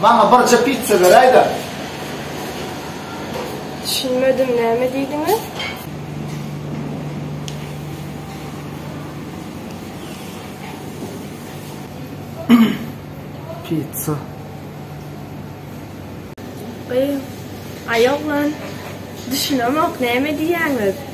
Maňa birje pizza beräýdä. Düşünmedim näme diýdiňiz? Pizza. Gyz, aý oglan, düşünemok näme diýýäňiz?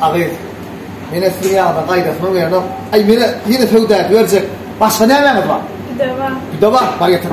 Agyz. Mene siziň ýagyna gaýdasym gelýänok. Aý, mene ýene söwda edip berjek. Başga nämäňiz bar? Pide bar. Pide bar, bar getir.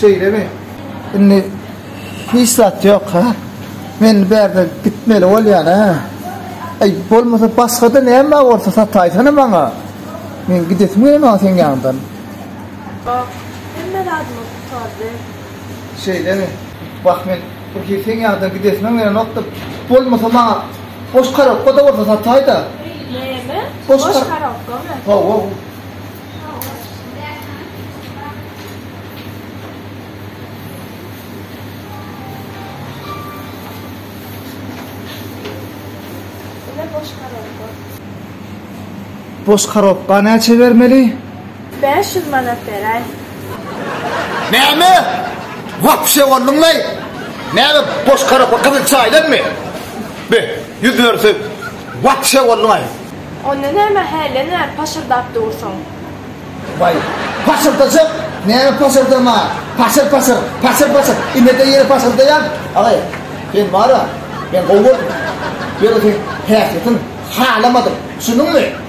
Şeýle mi? Indi hiç zat ýok ha. Men bärde gitmeli bolýan ha. Aý, bolmasa başga-da näme bolsa sataýsana maňa. Men gidesim gelýär sen ýandan. Hemme zat Şeýdemi? Wah, men bir girseň ýaňydan gidesiňem gelenokdyr. Bolmasa maňa boş korobka-da bolsa sataý-da. Näme? Boş korobkamy? Hawa. Ine boş korobka. Boş korobka näçe bermeli? Bäş ýüz manat beräý. Näme? Wapşe bolduňmy? Näme boş karapak gyzyl çaýdanmy? Be, ýüz berse, wapşe bolduň-aý. Onda näme hälini paşyrdap dursuň? Waý, paşyrdajak, näme paşyrdama, paşyr-paşyr, paşyr-paşyr, inede ýere paşyrdaýan. Agay, sen bar-a, men gowy gördüm. Ýöne sen häsiýetiň halamadym, düşündiňmi?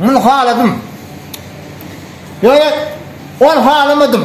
Muny haladym. Ýöne ol halamadym.